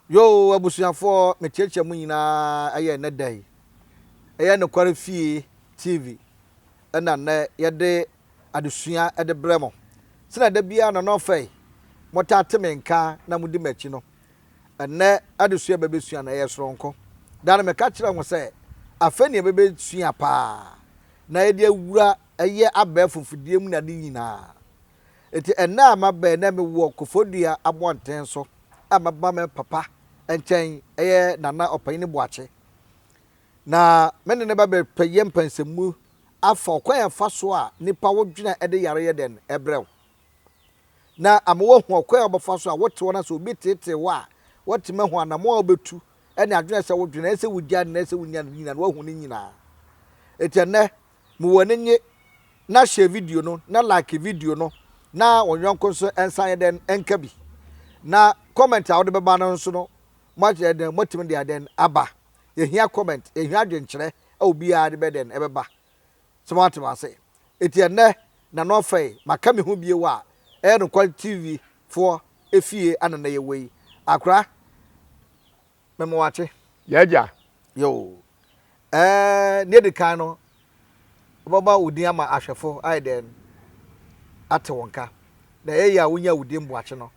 Yo, abusuafoɔ, mekyerɛkyerɛ mu nyinaa ɛyɛ ɛnɛ da yi. Ɛyɛ Nokware Fie TV ɛna nnɛ yɛde adesua de brɛ mo. Sɛnea da biara na na ɔfɛe, motaa te me nka na mudi m'akyi no, ɛnnɛ adesua a ɛbɛbɛsua no, ɛyɛ soronko. Daa no meka kyerɛ mo sɛ, afei na yɛbɛbɛsua paa, na yɛde awura yɛ abɛɛfo mfidie mu ne ade nyinaa. Enti ɛnnɛ a mabɛn na mewɔ Kofodua abɔnten so a maba me papa nkyɛn, ɛyɛ Nana Ɔpanyin Boakye. Na me ne no bɛbɛyɛ mpansɛmmu afa ɔkwan a ɛfa so a nnipa wo dwene a ɛde yare yɛ dɛn brɛ wo, na ama woahu ɔkwan a wobɛfa so a wote wo na sɛ obi teetee wo a woatumi ahu anammɔn a wobɛtu ne adwene a ɛsɛ sɛ wodwene, ɛsɛ sɛ wugyae anaa ɛsɛ sɛ wunya no nyinaa no, woahu ne nyinaa. Enti ɛnnɛ, ma w'ani nnye na share video no na like video no na wɔn yɔnko nso nsan yɛ dɛn nka bi. Na comment a wode bɛba no nso no, moakyerɛ dɛn, moatumi de ayɛ dɛn aba. yɛhia comment, yɛhia adwenkyerɛ a obiara de bɛyɛ dɛn ɛbɛba. So moate m'ase? Enti ɛnnɛ Nano Afɛe maka me ho bio a, ɛyɛ nokware TV foɔ efie a na nnɛ yɛwɔ yi. Akora, me mo wate? Y'agya. Yoo. Ɛɛ, nea edi kan no, wobɛma wo din ama ahwɛfo ayɛ dɛn ate wo nka. Na ɛyɛ yie a wonyaa wo din Boakye no,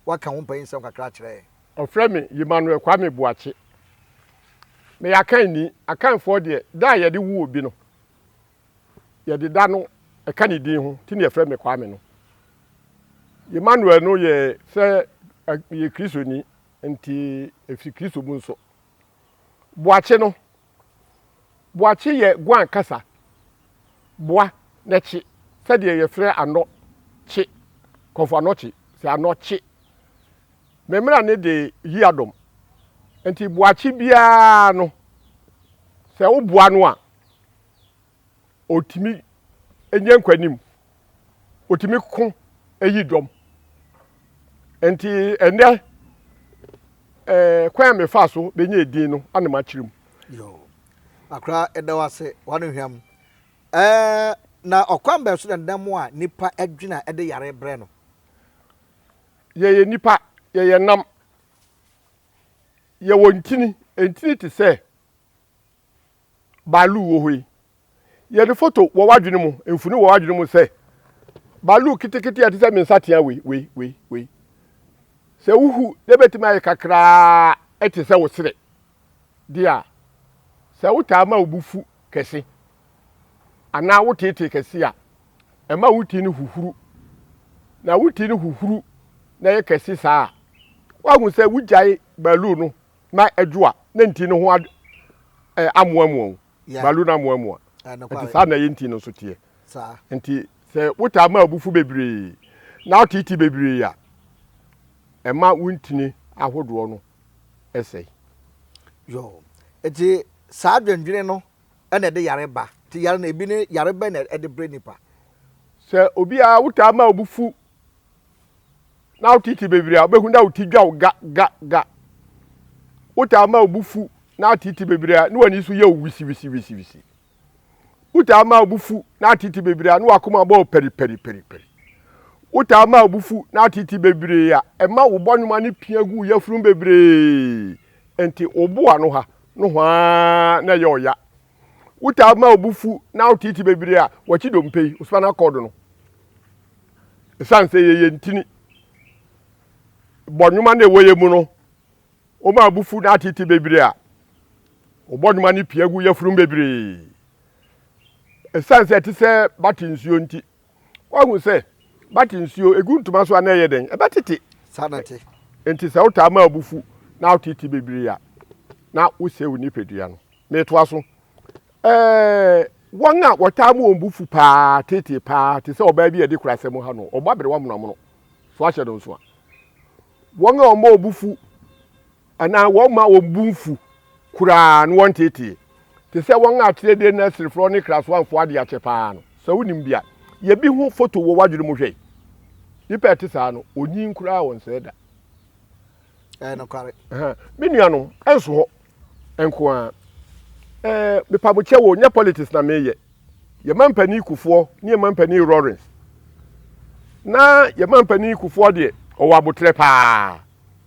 woaka wo mpanyinsɛm kakra akyerɛ yɛn. Wɔfrɛ me Yemanuel Kwame Boakye. Meyɛ Akanni. Akanfoɔ deɛ, da a yɛde wo obi no, yɛde da no ka ne din ho, nti na yɛfrɛ me Kwame no. Yemanuel no yɛ sɛ meyɛ Kristoni, nti ɛfiri Kristo mu nso. Boakye no, Boakye yɛ Guan kasa boa na kye sɛdeɛ yɛfrɛ anɔ kye, kɔmfo anɔ kye, sɛ anɔ kye. Me mmara ne de yi adom. Nti boakye biara no, sɛ woboa no a, ɔtumi nya nkwanim, ɔtumi ko yi dɔm. Nti ɛnɛ ɛɛ kwan a mefa so bɛnya edin no ana makyerɛ mu. Yoo, akora ɛda wo ase wɔn hwɛm. Ɛɛ na ɔkwan bɛn so na nnam a nipa adwina ɛde yare brɛ no? Yɛyɛ nipa, yɛyɛ nam, yɛwɔ ntini, ntini te sɛ baaluu wɔ hɔ yi. Yɛ ne foto wɔ w'adwene mu, mfoni wɔ w'adwene mu sɛ baaluu ketekete a ɛte sɛ me nsatea wei, wei, wei, wei. Sɛ wohu na ebetumi ayɛ kakraa te sɛ wo sere de a, sɛ wotaa ma wo bo fu kɛse anaa woteetee kɛse a, ɛma wo ti no huhuru. Na wo ti no huhuru na ɛyɛ kɛse saa a, woahu sɛ wogyae baaluu no na adwo a, na nti no ho amoamoa wo. Balu no amoamoa. Nti saa na ɛyɛ nti no nso teɛ. Nti sɛ wotaa ma abufu bebree na woteete bebree a, ɛma wo ntini ahodoɔ no sɛe. Yo, nti saa adwendwene no na ɛde yare ba. Nti yare no, ebi ne yare bɛn na ɛde brɛ nipa? Sɛ obi a wotaa ma abufu na wo titi bebiri a wobɛhu na wo ti dwa wo ga ga ga wotaa ma obu fu na atete bebree a ne w'ani so yɛ wo wisiwisiwisiwisi wotaa ma obu fu na atete bebree a ne w'akoma bɔ pɛripɛripɛripɛri wotaa ma obu fu na atete bebree a ɛma wo bɔnwoma ne pia gu yafunu bebree nti wo boa no ha no hwaa na ɛyɛ ɔya Wotaa ma wo bo fu na woteetee bebree a wɔkye dompe yi, wo spinal cord no. Esiane sɛ ɛyɛ yɛn ntini bɔnwoma na ɛwɔ yɛn mu no, woma wo bo fu na ateetee bebree a, wo bɔnwoma no pia gu yafunum bebree. Esiane sɛ ɛte sɛ bate nsuo nti, Woahu sɛ bate nsuo, ɛgu ntoma so a na ɛyɛ dɛn? Ɛbɛtete. Saa na ɛte. Enti sɛ wotaa ma abu fu na wotete bebree a, na wosɛe wo nipadua no. Metoa so. Ɛɛ, wɔn a wɔtaa ma wɔn bo fu paa, tete paa, te sɛ ɔbaa bi a yɛde kura asɛm ha no, ɔbɔ aberewa monomono. So ahyɛ no nso a? Wɔn a wɔma wɔn bo fu Anaa wɔmma wɔn bo mfu koraa na wɔnteetee, te sɛ wɔn a Tire-de Nasirefoɔ ne Kraswanfoɔ ade akyɛ paa no. Sɛ wonim bi a, yɛ bi ho foto wɔ w'adwene mu hwɛ. Nnipa a ɛte saa no, wɔnyin koraa a wɔnsɛe da. Ɛyɛ nokware. Me nuanom, ɛnso hɔ nko ara. Ɛɛ, mepa mo kyɛw o, nyɛ politics na mereyɛ. Yɛn mampanin Kufuor ne yɛn mampanin Lawrence. Na yɛn mampanin Kufuor deɛ, ɔwɔ aboterɛ paa.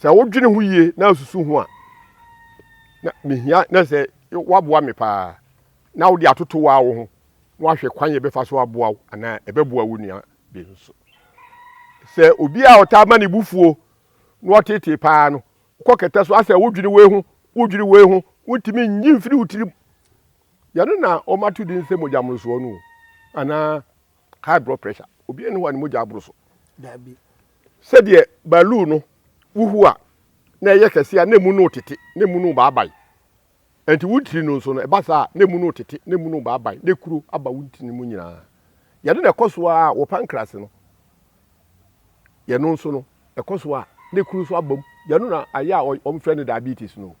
Sɛ wodwene ho yie na asusu ho a, na mehia na sɛ woaboa me paa na wode atoto waa wo ho na wahwɛ kwan yɛ bɛfa so aboa wo anaa ɛbɛboa wo nua bi nso. Sɛ obi a ɔtaa ma ne bufuo na ɔtetee paa no, wokɔ kɛtɛ so asɛ wodwene wei ho, wodwene wei ho, wontumi nyi mfiri wo tirim. Yɛno na wɔato din sɛ mogyamorosoɔ no anaa High blood pressure. Obiara nni hɔ a ne mogya aboro so. Dabi. Sɛdeɛ baaluu no wohu a na ɛyɛ kɛseɛ a na emu no retete, na emu no rebaabae. Ɛnti wo tiri no nso no, ɛba saa a na emu no retete, na emu no rebaabae, na ekuro aba wo ntini mu nyinaa. Yɛde na ɛkɔ so a wɔ pancreas no, yɛno nso no, ɛkɔ so a na ekuro nso abam. Yɛno na ayɛ a wɔfrɛ no diabetes no.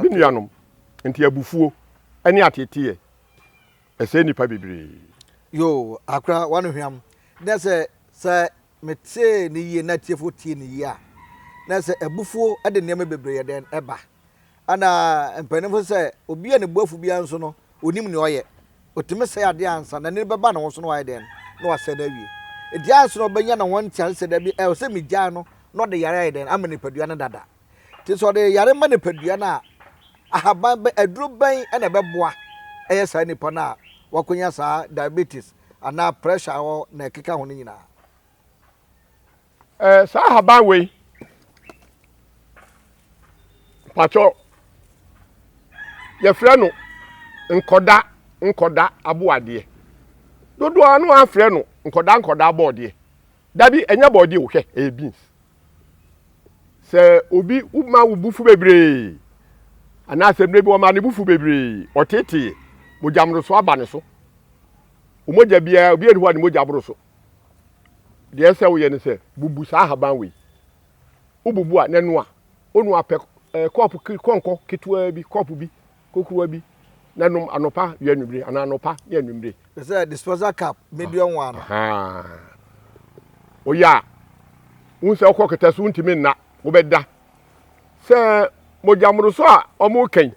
Me nuanom, nti abufuo ne ateeteeɛ. ɛsɛe nnipa bebree. Yoo akra wano hwam na sɛ sɛ me tee no yie na atiefo tie no yie a na sɛ abufuo de nneɛma bebree yɛ dɛn ba ɛna mpaninfo sɛ obi a ne bo afu biara nso no onim nea ɔyɛ otumi sɛe adeɛ ansa na nini bɛba ne ho so na wayɛ dɛn na wasɛe no awie eti ansa na ɔbɛnya ne ho ntease sɛ dabi ɛwɔ sɛ megyae no na ɔde yare ayɛ dɛn ama nipadua no dada Nti sɛ ɔde yare ma nipadua no a, ahaban bɛn, aduro bɛn na ɛbɛboa ɛyɛ saa nipa no a wakonya saa diabetes anaa pressure a ɔwɔ na ɛkeka ho no nyinaa? Ɛɛ saa ahaban wei patwɔ yɛfrɛ no nkɔda nkɔda aboadeɛ dodoɔ ano afrɛ no nkɔda nkɔda abɔɔdeɛ dabi ɛnyɛ bɔɔdeɛ o hwɛ ɛyɛ beans. sɛ obi ma wo bufu bebree anaasɛ mmerɛ bi wɔma ne bufu bebree ɔtetee mogya mmoro so aba ne so mogya biara obi ani hɔ a ne mogya boro so deɛ sɛ woyɛ ne sɛ bubu saa ahaban wei wobubu a n'anoa ɔnoa pɛ kɔɔpo kɔnkɔ ketewaa bi kɔɔpo bi kokuruwa bi na nom anɔpa ne anwummere anaa anɔpa ne anwummere. Te sɛ disposal cup ne deɛ ɔnwa no. Woyɛ a wohu sɛ wokɔ kɛtɛ so wontumi nna wobɛda sɛ mogyamoroso a wɔreka yi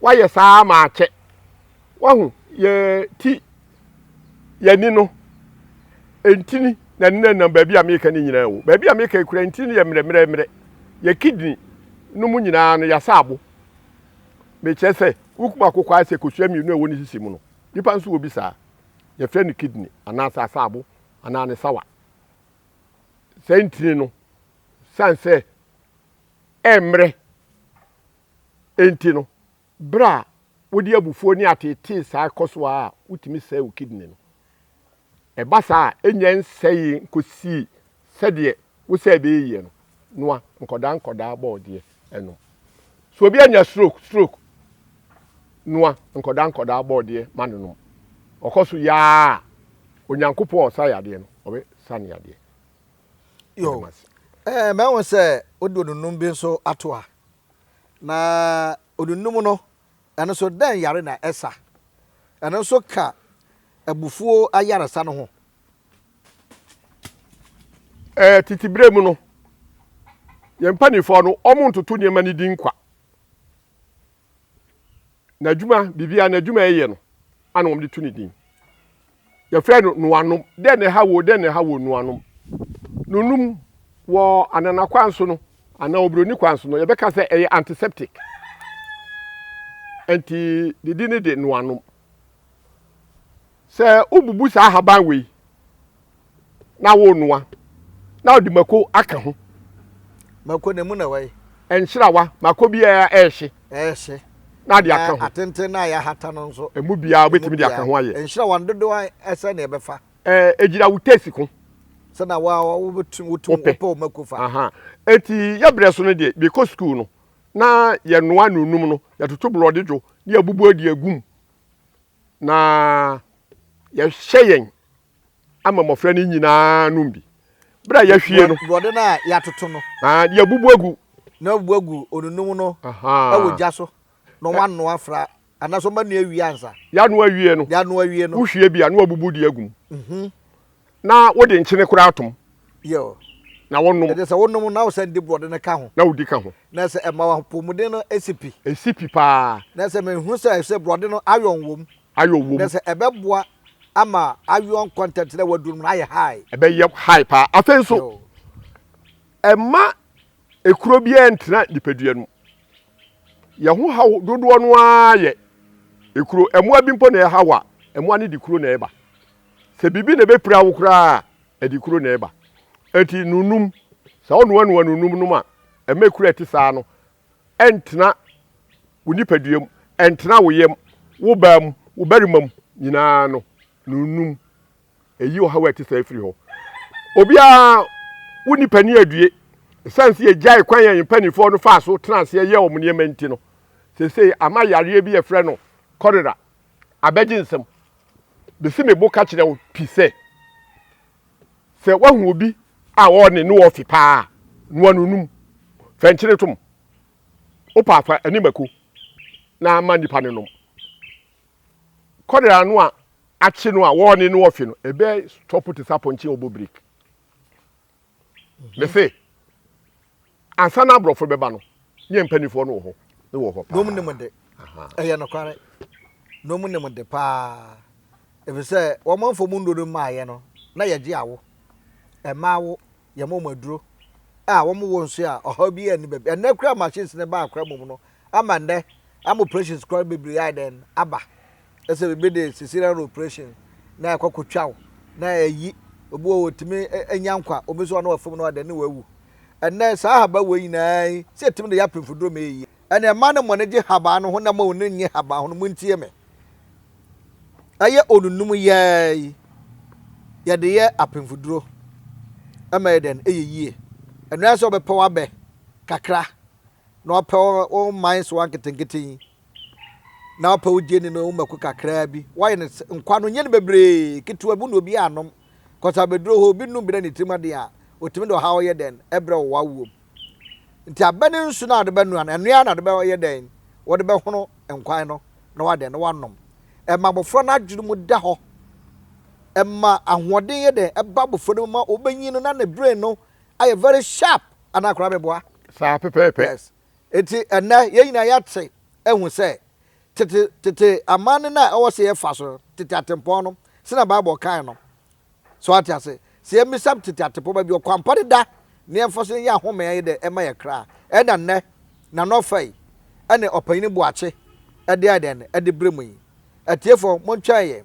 woayɛ saa ma akyɛ wahu yɛ ti yɛni no ntini na ne nam baabi a meka no nyinaa o baabi a meka kura ntini no yɛ mmerɛmmerɛmmerɛ yɛ kidney no mu nyinaa no yɛasa abo Mekyerɛ sɛ, wokum akokɔ ara sɛ kosua mmienu a ɛwɔ ne sisi mu no. Nnipa nso wɔ bi saa. Yɛfrɛ no kidney anaasɛ asaabo anaa ne sawa. Saa ntini no, sane sɛ ɛmmerɛ nti no, berɛ a wode abufuo ne ateetee saa kɔ so ara a, wotumi sɛe wo kidney no. Ɛba saa a, ennya nsɛee nkosii sɛdeɛ wo sɛ ɛbɛyɛ yie no, noa nkɔdaa nkɔdaa bɔɔdeɛ nom. Sɛ obi anya stroke, stroke, noa nkɔdaa nkɔdaa bɔɔdeɛ ma no nom. Ɔkɔ so yɛ ara a, Onyankopɔn a ɔsa yadeɛ no, ɔbɛsa no yadeɛ. Yo, Meda mo ase. eh, mahu sɛ wode onunum bi nso ato ha. Na onunum no, Ɛno nso, dɛn yare na ɛsa? Ɛno nso ka abufuo ayaresa no ho. Ɛɛ, tete berɛ mu no, yɛn mpanimfoɔ no, wɔntoto nneɛma no din kwa. N'adwuma, biribiara n'adwuma a ɛyɛ no, ana wɔde to ne din. Yɛfrɛ no noanom. Dɛn na ɛhaw wo? Dɛn na ɛhaw wo? Noanom. Nonom wɔ anana kwan so no anaa obroni kwan so no, yɛbɛka sɛ ɛyɛ antiseptic. Nti ne di ne de noanom. Sɛ wobubu saa ahaban wei na wɔnoa na wɔde mako aka ho. Mako na emu na ɛwɔ yi. Nkyerawa, mako biara ɛrehye. Ɛrehye. Na de aka ho. Atenten na yɛahata no nso. Emu biara wobɛtumi de aka ho ayɛ. Nkyerawa no dodoɔ ɛsɛ na ɛbɛfa. Ɛɛ egyina wo tesi ko. Sɛ na wa wobɛtum wotum wopɛ wo mako fa. Aha. Eti yɛ brɛ so no deɛ bɛkɔ sukuu no na yɛnoa na onum no yɛtoto borɔde dwo ne yɛbubu adi agum na yɛhyɛ yɛn. ama mmɔfra no nyinaa nom bi. Bere a yɛahwie no. Borɔde no a yɛatoto no. Yɛabubu agu. Na wɔabubu agu onunum no wɔ gya so na wɔanoa afra anaasɛ wɔanoa awie ansa. Yɛanoa awie no. Yɛanoa awie no. Wohwie bi a na wɔabubu de agu mu. Mhm. Na wode nkyene koraa tom. Yɛo. Na wonom. Ɛde sɛ wonom na wosan di borɔde no ka ho. Na wodi ka ho. Na sɛ ɛma w'apɔmuden no si pi. Esi pi paa. Na sɛ mehunu sɛ sɛ borɔde no ayɔn wom. Ayoɔ wom. Na sɛ ɛbɛboa ama ayoɔ nkɔntɛntenɛ a waduru no na ayɛ high. Ɛbɛyɛ high paa. Afei nso, ɛmma ekuro biara ntena nipadua no mu. Yɛn ho haw dodoɔ no ara yɛ ekuro. Mmoa bi mpo na ɛhaw a, mmoa no de kuro na ɛba. Sɛ biribi na ɛbɛpira wo koraa a, ɛde kuro na ɛba. Enti nunum, sɛ wonoanoa nunum nom a, ɛmma ekuro a ɛte saa no ɛntena wo nipadua mu, ɛntena wo yam, wo baa mu, wo barima mu nyinaa no, na onnum. Ɛyi ɔhaw a ɛte saa firi hɔ. Obiara, wo nipa ni adue. Ɛsiane sɛ yɛgyae kwan a yɛn mpanimfoɔ no faa so tenaa aseɛ yɛɛ wɔn nneɛma nti no, seesei ama yareɛ bi yɛfrɛ no kɔlera abɛgye nsam. Mesi me bo ka kyerɛ wo pi sɛ, Sɛ woahu obi a ɔne ne wɔ ɔfe paa a, noa no nom. Fa nkyene tom. Wopɛ a fa ne mako na ma nipa no nom. Kɔdere ano a akye no a wɔne no wɔ ɔfe no, ɛbɛ stɔpo te sɛ apɔnkye a ɔbɔ breki. Mese. Ansa na aborɔfo bɛba no, ne yɛn mpanimfoɔ no wɔ hɔ. Ne wɔ hɔ paa. Nom nim de. Ɛyɛ nokware. Nom nim de paa. Efisɛ wɔn manfo mu nnuro no mmaeɛ no, na yɛgye awo. Ɛma awo, yɛma wɔn aduro. A wɔn wo nso a, ɔhaw biara nni baabi. Ɛnnɛ koraa machines no baa koraa mmom no, ama nnɛ, ama operations koraa bebree ayɛ dɛn? Aba. sɛ biribi de cesarean operation na ɛkɔ kotwa wo na ɛyi obi wɔ wɔtumi nya nkwa obi nso ɔno ɔfam no ɔdɛ ne wawu ɛnɛ saa haba wɔ nyinaa yi sɛ ɛtumi de yɛ apemfoduro ma ɛyi ɛnɛ mma ne mmɔne gye haba no ho na ma ɔne nye haba ho no montie me ɛyɛ onunum yɛɛ yi yɛde yɛ apemfoduro ɛma yɛ dɛn ɛyɛ yie ɛno yɛ sɛ ɔbɛpɛ wabɛ kakra na ɔpɛ wo man so anketenkete yi na wopɛ wo gye ni no wo mako kakraa bi woayɛ no nkwa no nyɛ no bebree ketewa bi na obi anom kɔsa bɛduro hɔ obi num bi na ne tirim aden a ɔtumi de ɔhaw yɛ dɛn ɛbrɛ wɔ wawuom nti abɛ ne nsu no a wɔde bɛnoa no ɛnoa na wɔde bɛyɛ dɛn wɔde bɛhono nkwan no na wadɛn na wanom ɛma abɔfra no adwene mu da hɔ ɛma ahoɔden yɛ dɛn ɛba abɔfra no mu ma ɔbɛnyin no na ne brain no ayɛ very sharp anaa koraa meboa saa pɛpɛɛpɛ yes. Enti ɛnnɛ yɛn nyinaa yɛate ahu sɛ tete tete amanne no a ɛwɔ sɛ yɛfa so no, tete atempɔn no, sɛnea Bible kae no. So wate ase? Sɛ yemmisa tete atempɔn baabi ɔkwampa deda na yɛmfa so nyɛ ahome a ɛyɛ dɛ mma yɛn kra a, ɛnna nnɛ Nana Ɔfai ne Ɔpanyin Boakye de ayɛ dɛn de brɛ mu yi? Atiefo, montwɛn yɛn.